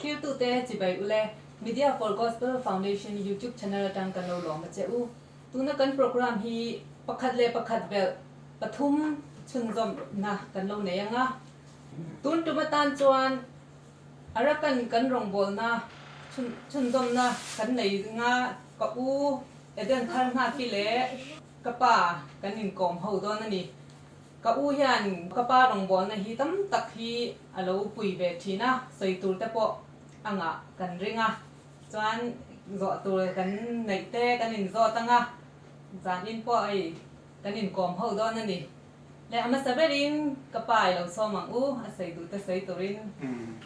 Thiltute chibai ule, Media for Gospel Foundation YouTube Channel atang kan lo lawm a che u. Tuna kan program hi pakhat leh pakhat belh pathum chhunzawm hna kan lo nei anga, tun tum atan chuan a rakan kan rawngbawlna chhunzawmna kan nei zinga ka u Eden Tharhngapi leh Ka pa kan inkawm ho dawn a ni. Ka u hian ka pa rawngbawlna hi tam tak hi a lo pui ve thin a, sawi tur te pawh a ngah kan ring a, chuan zawh tur kan neih te kan in zawt ang a, zan in pawh hei kan inkawm ho dawn a ni. Leh a hmasa berin ka pa i lo sawm ang u, a sawi duh te sawi turin.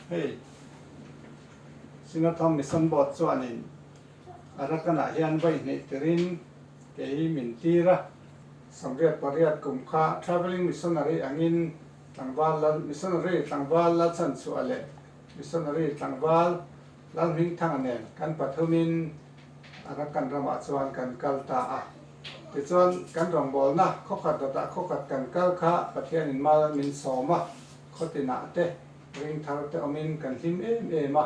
Hei Sinatham Mission Board chuanin A Ratanah hian vawi hneih tirin kei min tir a, Samriat pariat kum kha Travelling Missionary angin tlangval lal Missionary tlangval lalsan chhuah leh Missionary tlangval Lalhmingthanga nen kan pathumin a Ratan ramah chuan kan kal ta a. Tichuan, kan rawngbawlna khawkhat dawtah khawkhat kan kal kha Pathianin mal min sawm a, khawtinah te, ringthar te awmin kan hlim em em a.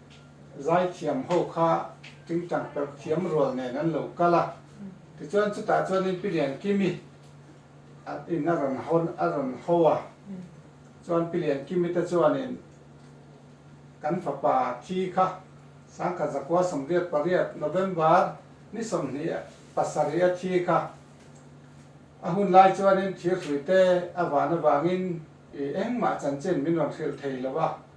Zaithiam ho kha tingtang perh thiam rual nen an lo kal a, tichuan chutah chuanin Pi Lian Kimi a in a rawn hawn a rawn ho a, chuan Pi Lian Kimi te chuanin kan fapa thi kha Sangkhat Zakua Sawmriat pariat November ni sawmhnih pasarih a thi kha a hun lai chuanin thir hruite a van avangin ih engmah chanchin min rawn hrilh thei lo a,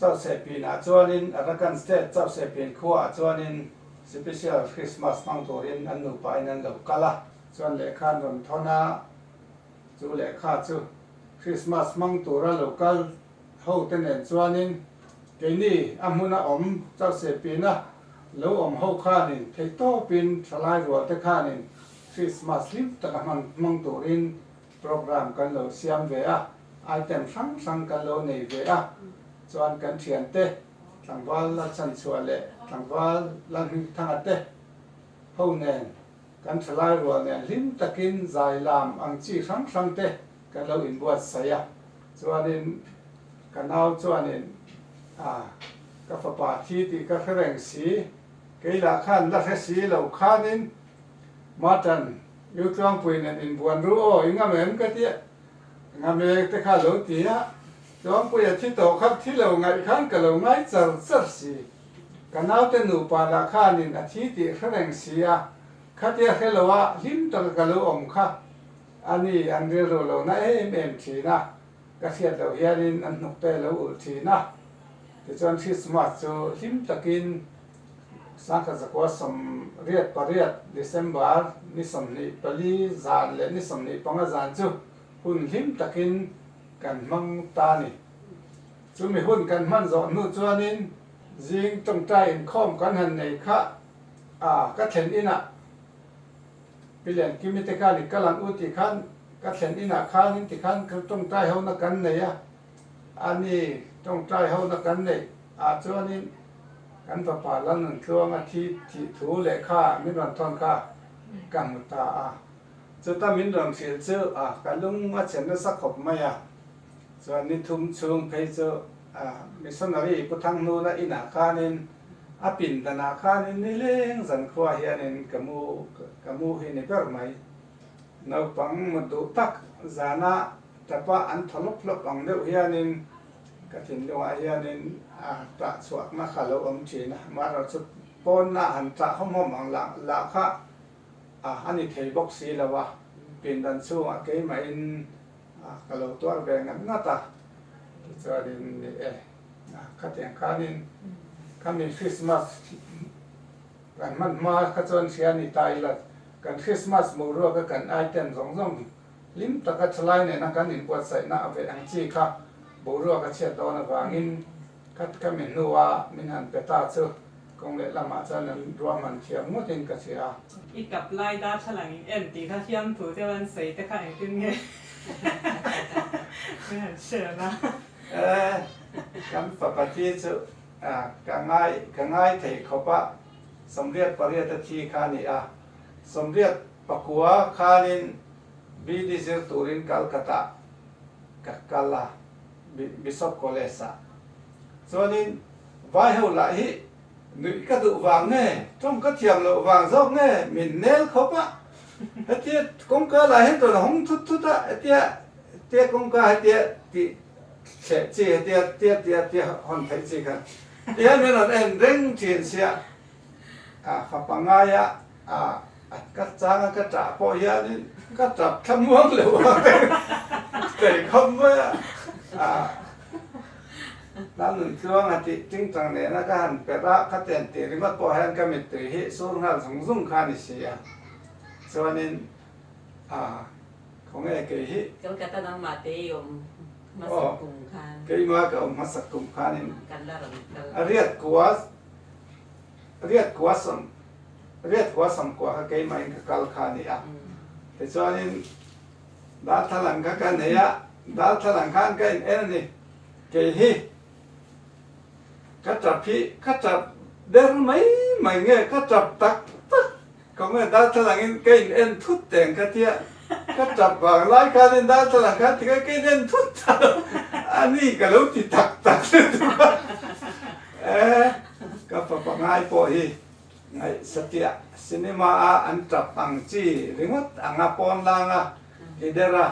Chauhseh pin ah chuanin Arakan State chauhseh pin khua ah chuanin Sipisial Krismas hmang turin an nupa in an lo kal a. Chuan lehkha an rawn thawn a, chu lehkha chu Krismas hmang tura lo kal hote nen chuanin keini a hmun a awm chauhseh pin a lo awm ho khanin theihtawpin thalai rualte khanin Krismas hlim taka hman hmang turin Programme kan lo siam ve a, item hrang hrang kan lo nei ve a, chuan kan thiante tlangval la chanchhuah leh tlangval la hmingthanga te ho nen kan thalai rual nen hlim takin zai lam ang chi hrang hrang te kan lo inbuatsaih a, chuanin ka nau chuanin ah ka fapa thi tih ka hre reng si, keilah khan la hre si lo khanin Martin. U Tluangpui nen in buan ru aw, i ngam em ka ti a, ngam e te kha lo ti a, Tluangpui a thi tawh khat thi lo ngaih khan ka lo ngai char char si, ka naute nupa lah khan in a thi tih hre reng si a, khatia hre lo a hlim taka ka lo awm kha a ni an rilru lo na em em thin a, ka hriat loh hian in an hnuk te lo ulh thin a, tichuan Christmas chu hlim takin. Sangha Zakua sawmriat pariat, December, ni sawmhnih pali zan leh ni sawmhnih panga zan chu hun hlim takin kan hmang ta a ni. Chumi hun kan hman zawh hnu chuanin zing tawngtai inkhawm kan han nei kha a, ka thlen inah Pi Lian Kimi te khan i kal ang u tih khan ka thlen inah khan in tikhan tawngtai hona kan nei a. A ni, tawngtai hona kan neih ah chuanin kan fapa Lalnuntluang a thi thih thu lehkha min rawn thawn kha ka hmu ta a. Chuta min rawn hrilh chu ka lung a chhen nasa khawp mai a. Chuan ni thum chhung phei chu Missionary Pu Thang Hnuna inah khanin a pindan ah khanin ni leng zan khua hianin ka mu ka mu hi ni ber mai. Naupang mutduh tak zana Tapa an thaw lawp lawp ang deuh hianin ka thinlungah hianin tah chhuakna kha lo awm thin a, amaherawh chu pawnna han tah hawm hawm ang lah kha a ni thei bawk si lo a, pindan chhungah keimahin ka lo tuar ve ngat ngat a. Tichuanin ni e, khatiang khanin khami Krismas kan hman hma kha chuan hria ni ta ila kan Krismas boruaka kan item zawng zawng, Hlim taka thalai nena kan inbuatsaihna a veh ang chi kha boruak a chhiat dawn avangin khat ka mi hnua min han pe ta chu kawng leh lamah chuan an ruahman thiam ngawtin ka chhia a. I kap lai darthlalang in en tih kha hiam thu deuh an sawi te kha engtin nge min han share la. Kan fapati chu ka ngai ka ngai thei khawpa sawmriat pariata thi kha a ni a. Sawmriat pakua khanin BD zir turin Calcutta ka kal a, Bishop College ah. Chuanin vaiho lah hi nuih ka duh vang nge, tawng ka thiam loh vang zawk nge min nel khawp a. Hetia kawngka lah hian tawn a hawng thut thut a, hetia tia kawngka hetia tih thleh chi, hetia tia tia tia hawn theih chi kha tiang hian an en reng thin sia. a fa pangai a ka chang a ka tah pawh hianin ka tap thlamuang lo a ka tei khawp mai a hla nun tluang a tih tingtang nena ka han perh a khatian tih ringawt pawh hian ka mittui hi sur nghal zung zung kha a ni si a chuanin a khaw nge kei hi Kolkata nangmah te i awm hmasak kum khan aw keimah ka awm hmasak kum khanin kan la rawn kal a riat kua. riat kua sam riat kua sam kua kha keimah in ka kal kha nih a tichuanin darthlalang kha ka nei a darthlalang khan ka in en ani kei hi ka tap hi ka tap ber mai mai nge ka tap tak tak Comment Darthlangin ka in en thut teh ang ka tia ka tap vang lai khanin Darthlalang khan tikah ka in en thut ta lo a ni ka lo ti tak tak lutuk a e ka fa pangngai pawh hi Satya cinema a an tap ang chi ringawt ang a pawn lang a i der a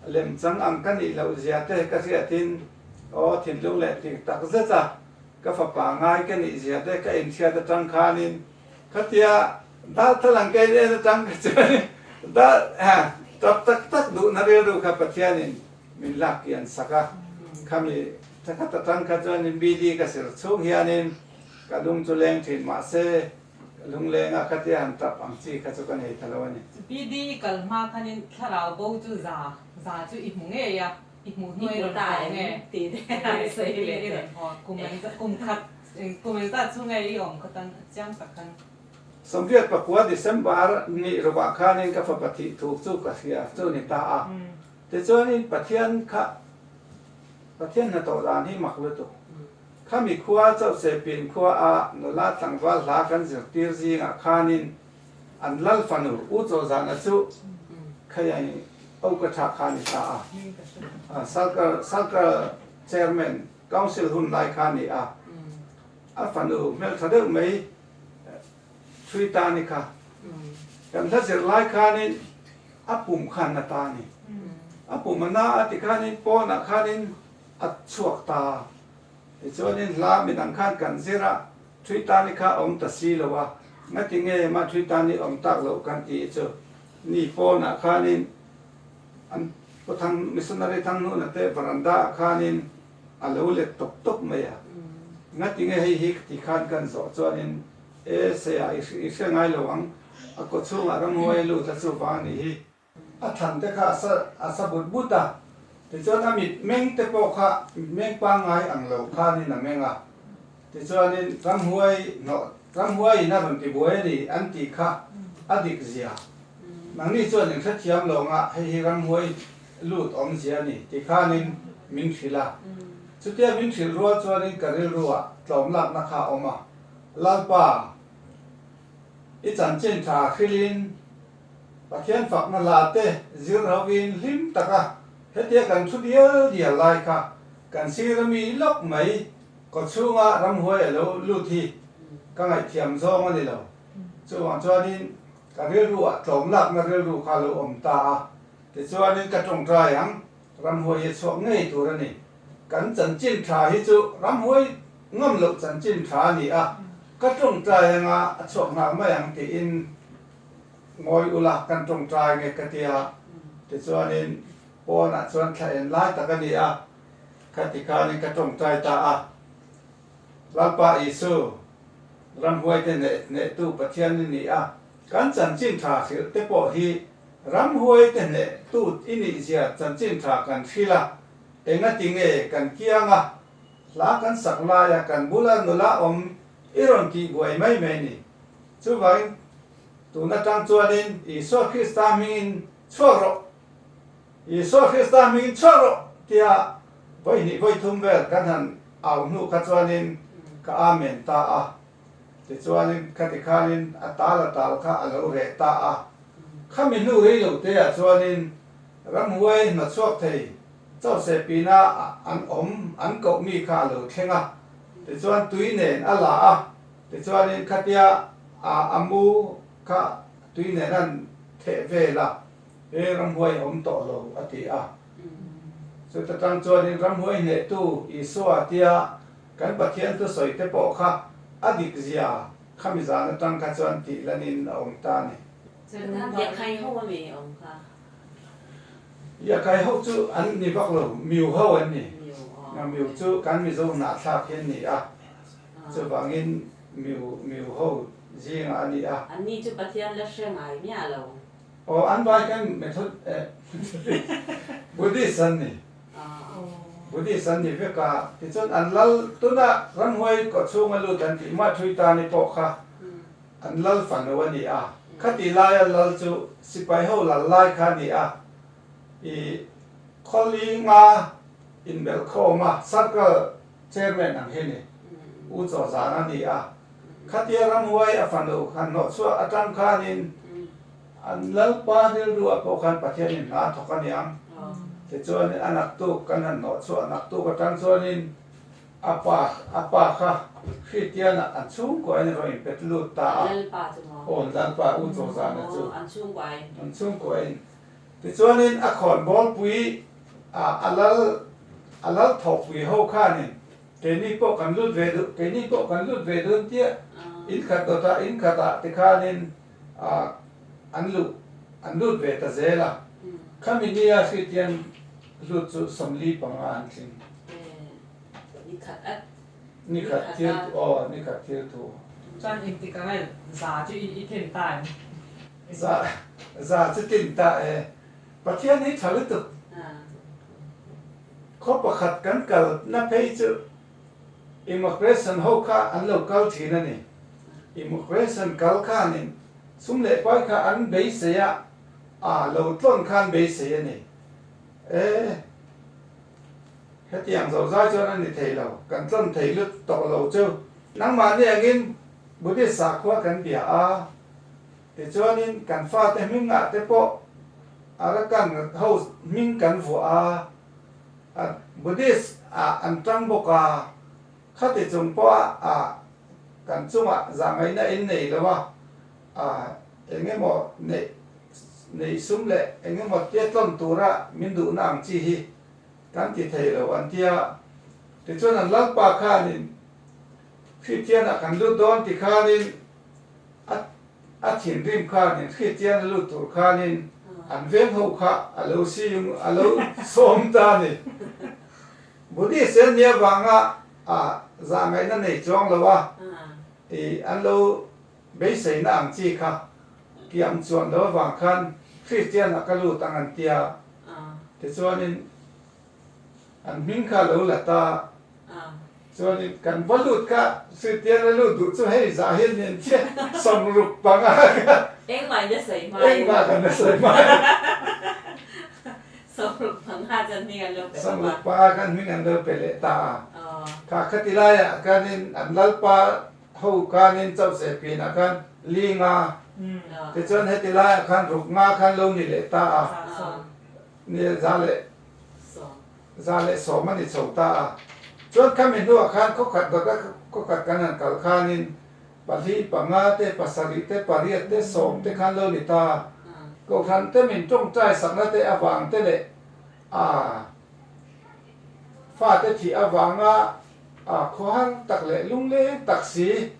lem chang ang ka nih loh zia te ka hriatin aw thinlung leh ti tak zet a ka fa pangngai ka nih zia te ka inhriat atang khanin Khatia dah thal ang kei nen atang kha chuan dah tap tak tak duhna rilru kha Pathianin min lak kian sak a, khami tha khat atang kha chuanin bidi ka serh chhung hianin ka lung chu leng thin mahse lunglenga khatia han tap ang chi kha chu ka nei thalo a ni. Bidi i kal hma khanin thlarau bo chu za za chu i hmu ngei a. I hmuh hnuai lo ta eng nge tih te a i sawi leh teh. Kum eng zat kum khat kum eng zat chu nge i awm khat a chiang tak a ni. Samriat pakua December nih rovah khanin ka fapa thih thuk chu ka hria chu ni ta a. Tichuanin Pathian kha Pathian hna tawh dan hi mak lutu khami khua Chauchepin khua a nula tlangval hla kan zirtir zingah khanin An lal fanu U Chaw Zana chu khai a nih au ka thah kha ni hla a, Salkar Salkar Chairman Council hun lai kha ni a, a fanu hmel tha deuh mai Three ta ni kha kan hla zir lai khan in a pum kha na ta ni, a pum a na a ti khan in pawn ah khan in a chhuak ta tichuan in hla minang khan kan zir a. Thui tani kha awm ta si lo a, ngatinge mah thui tani awm tak loh kan ti chu. Nipawnah khanin an pu thang missionary thanghnuna te veranda ah khanin a lo let tawp tawp mai a, ngatinge hei hi ka ti khan kan zawh chuanin E Saya, i hria ngai lo ang, a kawchhungah ramhuaia lut a chuva a nih hi. A thang te kha a sa but but a, tichuan a mit meng te pawh kha mit meng pangngai ang lo khanin a meng a, tichuanin ramhuai hnawh ramhuai in a rawn ti buai a ni an tih kha a dik zia, nangni chuan in hrethiam lawng a hei hi ramhuai lut awm zia a ni ti khanin min hrilh a, chutia min hrilh rual chuanin ka rilru ah tlawm lakna kha a awm a, Lalpa, i chanchin tha hrilhin, Pathian fakna la te zir rovin hlim taka hetia kan thu dial dial lai kha kan sir a mi lawk mai kawchhunga ramhuai a lo lut hi ka ngaihthiam zawng a ni lo. Chuvang chuanin ka rilru ah tlawm lakna rilru kha lo awm ta a, tichuanin ka tawngtai ang ramhuai hi a chhuak ngei tur a ni. Kan chanchin tha hi chu ramhuai ngam loh chanchin tha a ni a, ka tawngtai anga a chhuak nghal mai ang tiin, Ngawi ula kan tawngtai nge ka ti a, tichuanin pawnah chuan thla en lai tak a ni a, ka ti khanin ka tawngtai ta a. Lalpa Isu, ram huaite hneh hnehtu Pathian i nih a, kan chanchin tha hrilh te pawh hi ram huaite hneh tu i nih zia chanchin tha kan hrilh a, engati nge kan kiang a, hla kan sak laia kan bula nula awm i rawn tihbuai mai mai ni? Chuvain, tun atang chuanin Isua Krista hmingin chhuak rawh, Isua Krista hmingin chhuak rawh tia vawi hnih vawi thum vel kan han au hnu kha chuanin ka amen ta a. Tichuanin khati khanin a tal a tal kha a lo reh ta a. Khami hnu rei lo teah chuanin ramhuai hmachhuak thei chauhseh pinah an awm an koh mi kha a lo thleng a, tichuan tui nen a la a. Tichuanin khatia a a mu kha tui nen an theh vel a, hei ramhuai a awm tawh lo a ti a. Chuta tang chuanin ramhuai hnehtu Isua tia kan Pathian thu sawi te pawh kha a dik zia khami zan atang kha chuan tih la nin a awm ta ni. Yakhai ho a mi awm kha. Yakhai ho chu an ni vak lo, Miu ho an ni. Miu chu kan Mizo hnah thlak hi an ni a. Chuvangin miu miu ho zingah a ni a. An ni chu Pathian la hre ngai miah lo. Aw, an vai khan Method Buddhist an ni. Buddhist an ni vek a. Tichuan an lal tuna ramhuai kawtchhung a lut an tih mah thui tan hi pawh kha an lal fanu a ni a. Khati laia lal chu sipai ho lal lai kha a ni a. I khawl i nga inbelh khawm a, circle. Chairman ang hi ni, U Chawzan a ni a, khatia ramhuai a fanu han hnawh chhuah a tang khanin an Lalpa rilruah pawh khan Pathian in hna thawk a niang. Tichuanin a naktu kan han hnawh chhuah naktuk a tang chuanin a pa a pa kha Hristianah an chhungkuain a rawn in pet lut ta a. Lalpa chu maw? Aw, Lalpa U Chawzana chu an chhungkuain. Tichuanin a khawn bawlpui ah a lal a lal tho pui ho khanin keini pawh kan lut ve duh, keini pawh kan lut ve dun tia in khat dawt ah in khat ah tikhanin an luh an lut ve ta zel a. Khami ni a hriat hian hlut chu sawmli panga an tling. Ni khat at. Ni khat thil aw ni khat thil thu. Chuan inti ka rel za chu i thim ta em? Za za chu tin ta e. Pathian hi tha lutuk. Khaw pakhat kan kal na phei chu immigration ho kha an lo kal thin a ni. Immigration kal khan in sum leh pai kha an beisei a, a lo tlawn khan beisei a ni. E hetiang zo zai chuan a ni thei lo, kan tlawn thei lut tawh lo chu. Nangmahni angin Buddhist sakhua kan bia a, Tichuanin kan fate hmingah te pawh Arakan ho hming kan vuah a, a Buddhist ah an tang bawk a, khati chung pawha a kan chungah zangaina en nei lo a, a eng emaw neih neih sum leh eng emaw tiatlawn tura min duhna ang chi hi kan ti thei lo an ti a. Tichuan an lalpa khanin Hritthian ah kan lut dawn ti khanin, A a thinrim khan in Khristian a lut tur khan in an veng ho kha a lo siung, a lo sawm ta a ni. Buddhist hian mi avang ah a zahngaihna nei chuang lo a, i an lo beiseina ang chi kha kiam chuan lo avang khan Khristian ah ka lut ang an tia. Tichuan in. An hming kha lo la ta. Chuanin kan va lut kha Suitian a lut duh chu hei zah hian nen che sawm ruk panga kha. Engmah in a sawi hma em. Engmah khan a sawi hma em. Sawm ruk panga chuan hming an lo pe khawp a. Sawm ruk panga khan hming an lo pe leh ta a. Kha khati laiah khanin an lalpa ho khanin Chaucheh pin ah khan Linga tichuan heti laiah khan Ruknga khan lo ni leh ta a. Nel za leh za leh sawm a ni chho ta a. Chuan khami hnuah khan khawkhat baka khawkhat kan han kal khanin pahli, panga te, pasarih te, pariat te, sawm te khan lo ni ta a. Kohhran te min tawngtai sakna te avang te leh a fate thih avanga a khawhang tak leh lungleng tak si.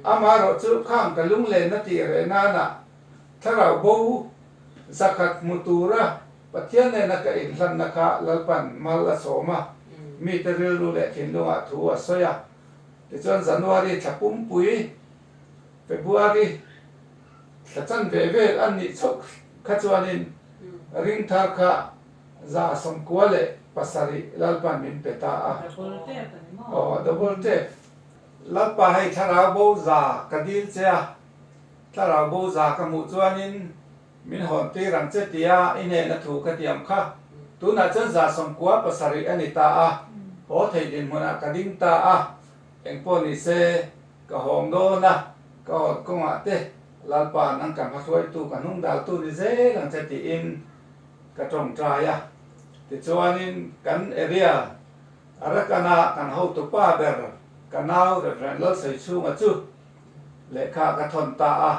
Amaherawhchu khang ka lunglenna tih reh nanah Thlarau bo zakhat hmu tura Pathian nena ka inhlanna kha Lalpan mal a sawm a, mite rilru leh thinlungah thu a sawi a. Tichuan January thla pumpui, February thla chan ve ve an nih chauh kha chuanin ring thar kha za sawmkua leh pasarih Lalpan min pe ta a. Double tap a ni maw? Aw, double tap. Lalpa hei thlarau bo za ka dil che a. Thlarau bu za ka hmuh chuanin min hawn tir ang che tia i hnena thu ka tiam kha. Tunah chuan za sawmkua pasarih a ni ta a, haw theih dinhmunah ka ding ta a. Engpawh ni se, ka hawng dawn a, ka hawn kawngah te Lalpa nang kan hmahruaitu ka hnungdaltu ni zel ang che tiin ka tawngtai a. Tichuanin kan area Arakanah kan hotupa ber ka nau Rev. Lalsawi Chhunga chu, Lehkha ka thawn ta a,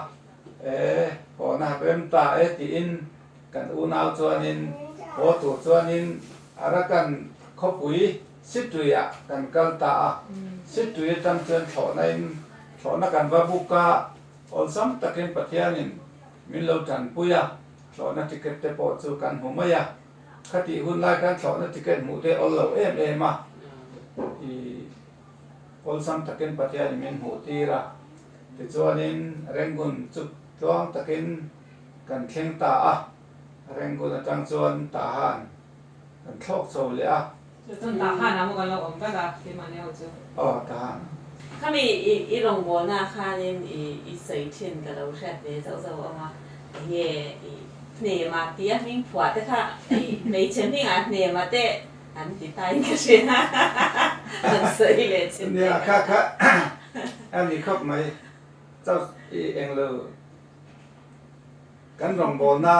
e, haw na rem ta e tiin kan unau chuanin haw tur chuanin a ra kan khawpui situi ah kan kal ta a. Situi atang chuan thlawhna in thlawhna kan va book a, awlsam takin Pathianin min lo tanpui a, thlawhna ticket te pawh chu kan hmu mai a, khatih hunlai khan thlawhna ticket hmuh te awllo em em a. awlsam takin Pathian i min hmuhtir a, tichuanin Rangoon chu tluang takin kan thleng ta a, Rangoon atang chuan Tahan kan thlawk chho leh a. Chuan Tahan ah pawh kan lo awm vek a, keimah neiawt chu. Aw, Tahan. Khami i rawngbawlna khanin i sawi thin ka lo hriat ve zauh zauh ang a, enge hnem a tia hmingphuah te kha hmeichhe hmingah hnem a teh. Kan ti tain ka hria han sawi hi leh chin te kan kha a ni khawp mai chau i englo kan rawngbâwl na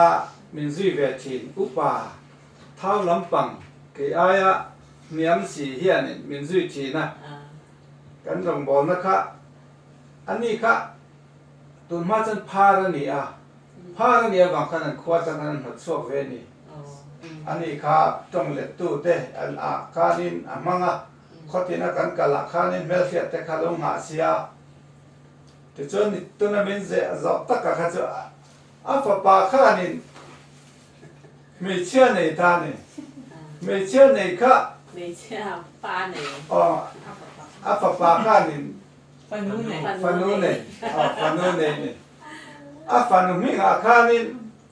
min zui ve thin upa thau lampang kei ai a hniam si hian in min zui thin a kan rawngbâwl na kha a ni kha tun hma chuan phar a ni a phar a ni avang khan an khua chang khan an hnawt chhuak ve a ni. A nih kha tawng lettu te ah khan in a hmang a, khawtin a kan kal ah khan in hmelhriat te kha lo ngah sia. Tichuan ni tuna min ze zawk tak ah kha chu a fapa khan in hmeichhia nei ta ni, hmeichhia nei kha aw a fapa khan in fanu nei, fanu nei, fanu nei ni, a fanu hming ah khan in,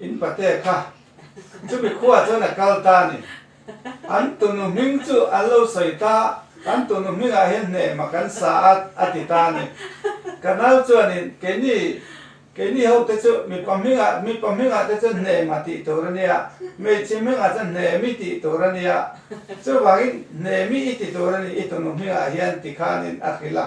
In pate kha chumi khua chuan a kal ta ni. An tunu hming chu an lo sawi ta, kan tunu hming ah hian hne emaw kan sa a, a ti ta ni. Ka nau chuanin keini, keini ho te chu mipa hming ah, mipa hming ah te chuan hne emaw tih tur a nia, hmeichhe hming ah chuan hne emi tih tur a nia. Chuvangin hne emi i ti tur a ni i tunu hming ah hian ti khanin a hrilh a.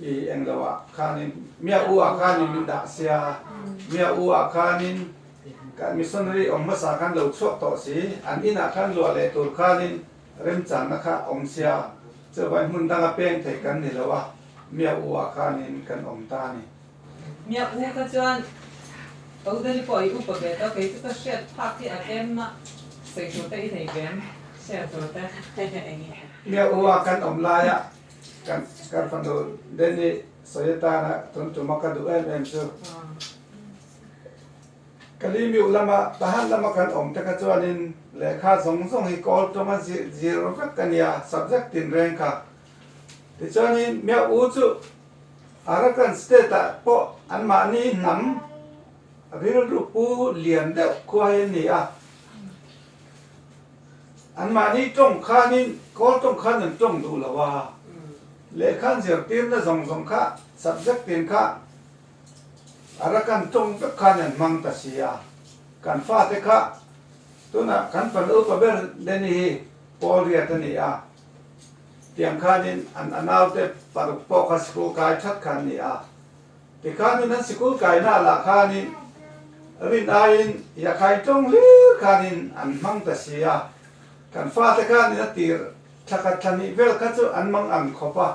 I eng lo ah khanin miah u ah khanin min dah sia. Miah u ah khanin kan missionary awm hmasa kan lo chhuak tawh si. An inn ah kan luah leh tur khanin remchang na kha awm sia. Chuvai hmun dang a peng theih kan ni lo a, miah u ah khanin kan awm ta a ni. Miah u kha chuan Ko Dali pawh i upa ve tawh, kei chu ka hriat phak hi a kem a, sawi tur te i nei ve em? Share tur te. Miah u ah kan awm lai ah Ka fanu Denny sawi atana tun tuma ka duh em em chu. Kalimiu lama Tahan lama kan awm taka chuanin lehkha zawng zawng hi kawl tawnga zir zir vek a nia, subject tinreng kha. Tichuanin Myau U chu Arakan state ah pawh an mahni hnam rilru pu lian deuh khua hi an ni a. Anmahni tawng khanin kawl tawng khan an tawng duh lo a, lehkhan zirtirna zawng zawng kha, subject ten kha a ra kan tawng vek khan an hmang ta si a. Kan fate kha tunah kan fanu pa ber Lenny hi Pawlriat a ni a, tiang khanin an anaute paruk pawh kha school kai that kha an ni a. Tikhanin an sikul kaihnaah lah khanin rin aiin Yakhain tawng hlir khanin an hmang ta si a, kan fate khanin a tir thla khat thla hnih vel kha chu an mang ang khawp a,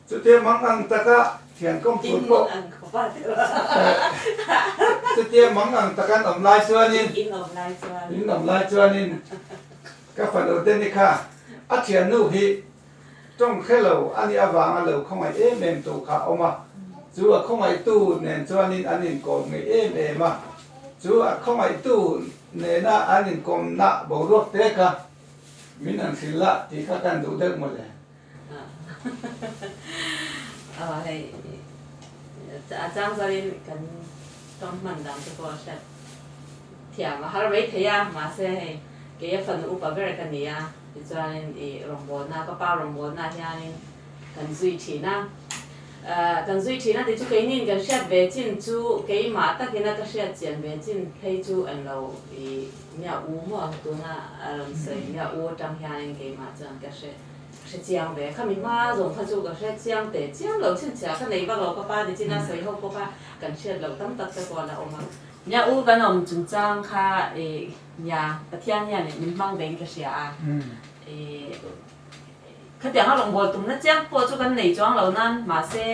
chutia mang ang taka thiankhawm tur pawh chutia mang ang taka an awm lai chuanin in awm lai chuanin ka fanu Danny kha a thiannu hi Tawng khe lo a nih avanga lo khawngaih em em tur kha a awm a, chu a khawngaihtu nen chuanin an inkawm ngei em em a, chu a khawngaihtu nena an inkawmna boruak te kha min an hrilh la tih kha kan duh deuh mawlh e. Aw hei, a chang chuanin kan tawng hman dan te pawh a hriat. Thiam a har mai thei a, mahse hei kei a fanu upa ber ka ni a, tichuanin i rawngbawlna, ka pa rawngbawlna hianin kan zui thin a. Ahh, kan zui thin a ti chu keinin kan hriat ve chin chu keimah takin a ka hriat chian ve chin phei chu an lo i Mya U maw tuna a rawn sawi Mya U atang hianin keimah chuan ka hre ka hre chiang ve a, khami hma zawng kha chu ka hre chiang teh chiang lo chhinchhiah ka nei vak lo ka pa nichin a sawi ho bawk a, kan hriat loh tam tak te pawh a la awm a. Nia u kan awm chungchang kha i nia Pathian hian i min hmang ve in ka hria a i khatiang a rawngbâwl tumna chiang pawh chu kan nei chuang lo nan mahse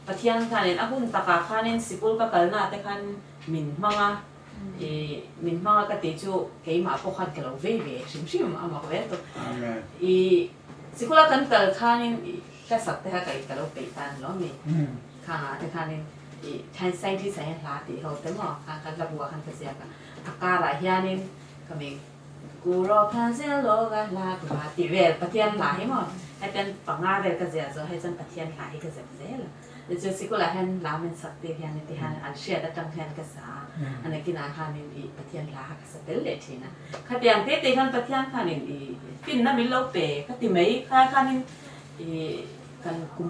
Pathian khan in a hun takah khan in sikul ka kalna te khan min hmang a i min hmang a ka tih chu keimah pawh khan ka lo vei ve hrim hrim a mak ve tawh i sikula kan kal khan in i hlasak te kha ka lo peih tan lo a ni. Kha te khanin i Chinese scientist ah hian hla ti ho te maw khan kan la bu a khan ka ziak a, a karah hianin ka mik Ku ro kha zel lawk a hla ku hla tih vel Pathian hla hi maw hetian panga vel ka ziah zawh hei chuan Pathian hla hi ka ziak zel a, te chu sikul ah hian lam in sak tir hianin ti hian an hriat atang hian ka sa a, a nakin ah khanin i Pathian hla kha ka sa tel leh thin a, khatiang te te khan Pathian khanin i finna min lo pe ka ti mai kha khanin i kan kum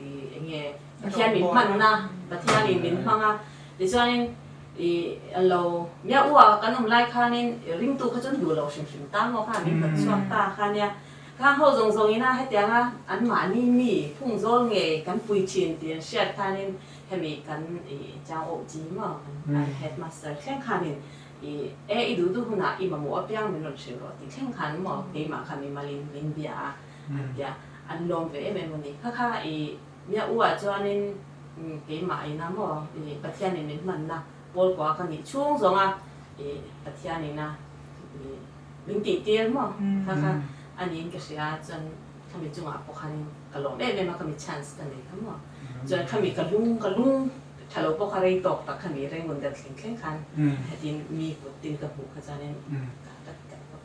I eng nge Pathian min hman na, Pathian in min hmang a, tichuanin i a lo miah u a, kan awm lai khanin i ringtu kha chuan duhlo hrim hrim ta maw kha min hnawt chhuak ta kha nia. Khang ho zawng zawng ina hetiang a an mahni mi phung zawl ngei kan pui thin tih an hriat khanin hemi kan i chang awh chi maw an headmaster thleng khanin i e i duhtu hunah i mamawh apiang min rawn hrilh rawh tih thleng khan maw keimah kha mimalin min bia a. an tia. An lawm ve em em a ni. Kha kha i Mya U-a chuanin keimah a ina maw i Pathianin min hmanna Pawl kua ka nih chhung zawnga i Pathianin a i min tihtir maw kha kha a niin ka hria a chuan khami chungah pawh khanin ka lawm em em a khami chance ka nei kha maw chuan khami ka lung ka lung tha lo bawk a rei tawk tak khami rei ngun der thleng thleng khan hetin mi kut tin ka hmuh kha chuanin ka ka tat tat bawk.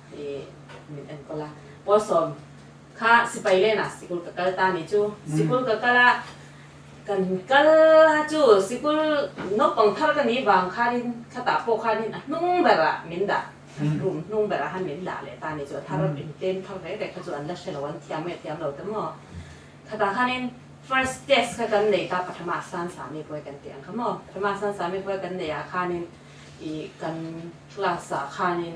min en kawla Pawl sawm kha sipai lena sikul ka kal ta ni chu sikul ka kal a kan kal a chu sikul naupang thar ka nih vang khanin khata pawh khanin a hnung berah min dah room hnung berah khan min dah leh ta ni chu a thar in tlem thar ve ve kha chu an la hre lo an thiam nge thiam lo te maw khata khanin first test kha kan nei ta pathama san sami pawi kan tih ang kha maw pathama san sami pawi kan nei ah khanin i kan class ah khanin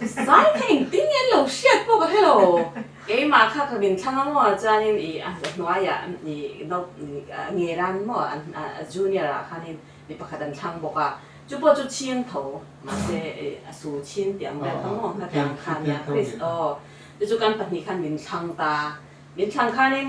Zai kha engtin nge an lo hriat bawk a helo. Keimah kha ka min thlang a maw a chuanin i a hnuaiah i nge ran maw a junior ah khanin mi pakhat an thlang bawk a, chu pawh chu chhiang tho mahse i a su chhin tih ang ber kha maw hma tiang khan nia Chris aw chu chu kan pahnih khan min thlang ta, min thlang khanin.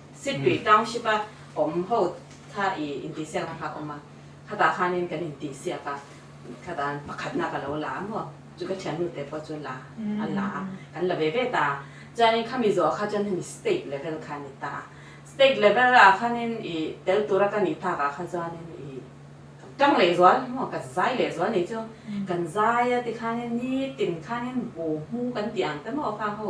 Sipri Township a awm ho kha i intihsiak na kha awm a, khata khanin kan intihsiak a, khata pakhatna ka lo la a maw, chu ka thiannu te pawh chu la an la a, kan la ve ve ta a, chuanin khami zawhah kha chuan hemi state level kha a ni ta a, state level ah khanin i tel tura ka nih tak ah kha chuanin i kan tang leh zual maw, kan zai leh zual ni chu, kan zai a tikhanin nitin khanin bu hmu kan tih ang te maw kha ho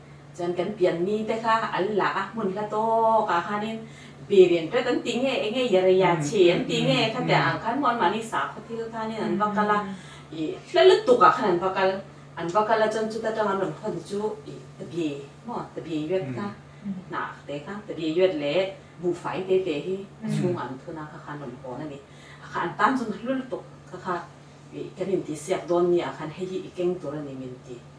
Chuan kan pian mi te kha an la a, hmun hla tawkah khanin birin ret an tih nge enge i rei a, chhi an tih nge kha te ang khan hmuh an mahni sakhaw thil khanin an va kal a, i hla lutuk ah khan an va kal, an va kal a chuan chuta tang an rawn haw te chu i Tabie maw Tabie Yuet kha hnah te kha Tabie Yuet leh Bu Fai te te hi a chhungah an thun a kha khan rawn hawn a ni, a kha an tan chuan hla lutuk kha kha i kan intihsiak dawn mi ah khan hei hi i keng tur a ni min ti.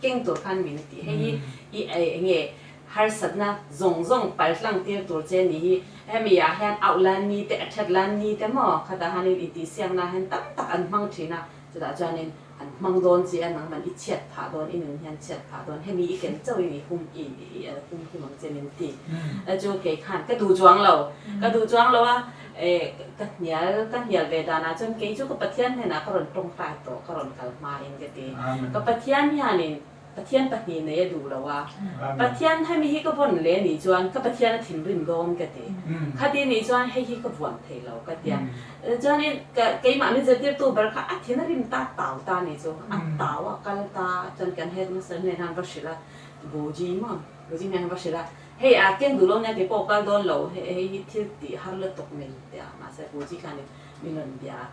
Keng tur khan min tih hei hi i enge harsatna zawng zawng pal tlangtir tur che ni hi hemi ah hian auh lan ni te a that lan ni te maw khat ah hian intihsiak na hian tam tak an hmang thin a chutah chuan in an hmang dawn chi a nangman i chhiat phah dawn i nun hian chhiat phah dawn hemi i ken chauh in i hum i hum hum ang che min ti a chu kei khan ka duh chuang lo ka duh chuang lo a. E, ka hnial, ka hnial ve danah chuan kei chu ka Pathian hnenah ka rawn tawngtai tawh, ka rawn kal hmain ka ti. Ka Pathian hianin Pathian pahnih nei a duh loh a, Pathian hemi hi ka vawn leh nih chuan ka Pathian a thinrim dawn ka ti. Khati nih chuan hei hi ka vuan thei lo ka ti a. Chuanin ka keimah min zirtirtu ber kha a thin a rim ta tau ta nih chu a tau a kal ta chuan kan headmaster hnenah an va hrilh a, Goji maw? Goji hnenah an va hrilh a. Hei a keng duh lo nia keipawh kal dawn lo hei hi thil tih har lutuk mai a tia mahse a pu chi khan i rawn bia a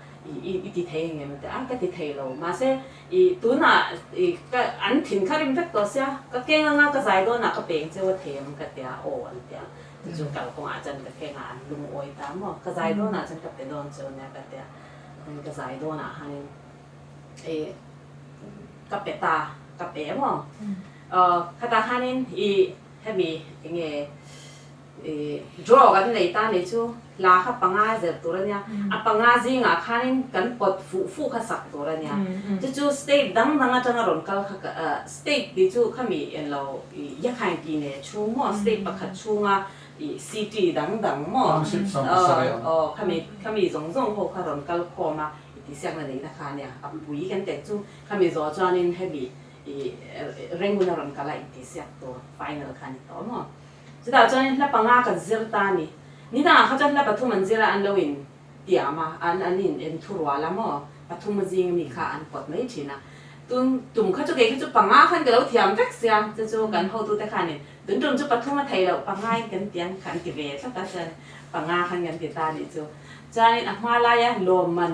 i ti thei engem a tia a ka ti thei lo mahse i tunah i ka an thin kha rim vek tawh sia ka keng anga ka zai dawnah ka peng che wa thei ang ka tia aw an ti a ti chu kal kawngah chuan ka kengah an lungawi ta maw ka zai dawnah chuan ka pe dawn chu nia ka tia chuan ka zai dawnah hian i ka pe ta ka pe maw. Aw, khatah khanin i hemi enge i draw kan nei ta ni chu hla kha panga zer tur a nia, a panga zingah khanin kan pawt fuh fuh kha sak tur a nia. Chu chu state dang dang atanga rawn kal kha ka ah, state tih chu khami enlo i Yakhine tih neh chhung maw, state pakhat chhunga i city dang dang maw, aw aw khami khami zawng zawng ho kha rawn kal khawm a, i tihsiakna neihna kha a nia. A pui kan tel chu khami zawh chuanin hemi I regular rawn kal a inti siak tur final kha a ni ta awm aw. Chutah chuan in hla panga kan zir ta a ni. Nina ah kha chuan hla pathum an zir a an lo in tiam a, an an in en thu rual a maw, pathum a zing ami kha an kawt mai thin a. Tun tum kha chu kei kha chu panga khan ka lo thiam vek sia, chu chu kan hotu te khan in tun tum chu pathum a thei loh panga in kan ti ang kha an ti ve tlat a, chuan in panga khan kan ti ta a nih chu. Chuan in a hma lai a lawmman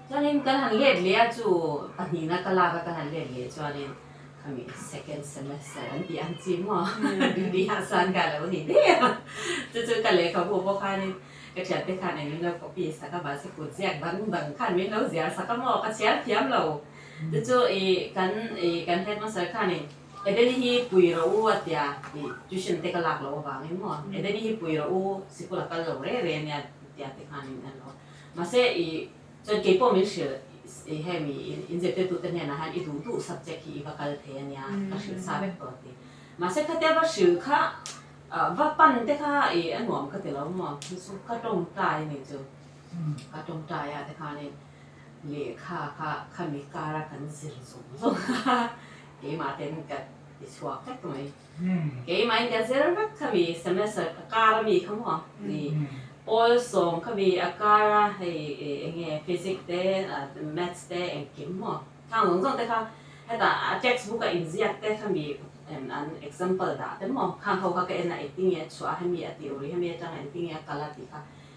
Chuanin kan han let leh a chu pahnihna ka lak a kan han let leh chuanin khami second semester an tih ang chi maw tihah chuan ka lo ni diau a chu chu ka lehkhabu pawh khanin ka thiante khan eng min lo copy sak a mahse kut ziak dang dang khan min lo ziar sak a maw ka chhiar thiam lo chu chu i kan i kan headmaster khanin Edeni hi pui rawh u a tia i tuition te ka lak loh avangin maw Edeni hi pui rawh u sikul a kal lo reh reh a nia tihte khanin an lo Mahse, i chuan kei pawh min hrilh i hemi in zirtirtute hnenah hian i duh duh subject hi i va kal thei a nia, ka hrilh sa vek tawh a ti. Mahse, khati a va hrilh kha va pan te kha i a nuam ka ti lo maw, chu chu ka tawngtai a ni chu. Ka tawngtai ah te khanin lehkha kha khami kara kan zir zawng zawng a, keimah ten ka ti chhuak vek mai. Keimah india zel vek kha mi sms a ka kar ami kha maw ni pawl sawm kha mi a kar a hei enge physic te maths te engkim maw thang zawng zawng te kha heta a text book a in ziak te kha mi em an example dah te maw khang kho kha ka en a eitinge a chhuah a hemi a tih uri hemi atang engtinge a kal a tih kha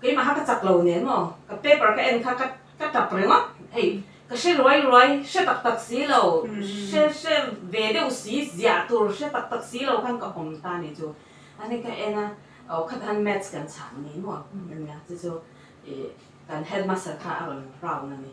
Keimaha ka chak lo nen maw? Ka paper ka en kha ka tap ringawt. Hei, ka hre ruai ruai, hre tak tak si lo, hre hre ve deuh si, ziah tur hre tak tak si lo khan ka awm ta ni chu. Ani ka en a, aw khat han maths kan chhang ni maw? Ka nia. Chu chu kan headmaster kha a rawn round a ni.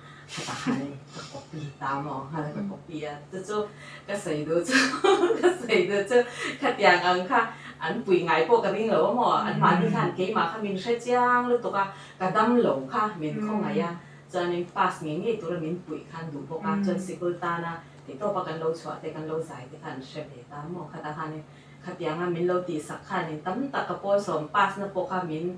Ka pa hian ka copy ta maw hal ka copy a chu chu ka sawi duh chu ka sawi duh chu khatiang ang kha an pui ngai pawh ka ring lo a maw an mahni khan keimah kha min hre chiang lutuk a ka dam lo kha min khaw ngai a chuanin pass ngei ngei tura min puih khan duh bawk a chuan sikul tana titawpa kan lo chhuah te kan lo zai te khan an hre ve ta a maw khatah khanin khatianga min lo tihsak khanin tam tak ka pawsawm pass na pawh kha min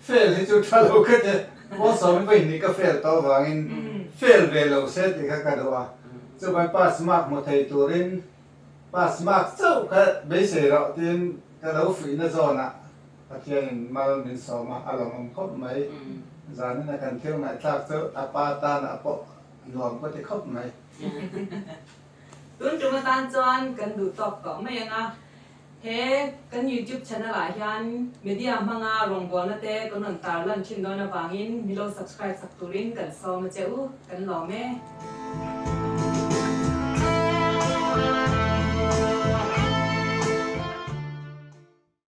Fail hi chu tha lo ka ti. Paul Sawmin pawh inhnih ka fail tawh avangin fail ve lo se tih kha ka duh a. Chukawn pass mark hmu thei turin pass mark chauh kha beisei rawh tiin ka lo fuihna zawnah Pathianin mal min sawm a, a lawmawm khawp mai. Zanin a kan thil ngaihthlak chu a pa tanah pawh a nuam ka ti khawp mai. Tun tum atan chuan kan duh tawk tawh mai anga He kan YouTube channel ah hian media hmanga rawngbawlna te kan rawn tar lan thin dawn avangin milo subscribe sak turin kan sawm a che u, kan lawm e.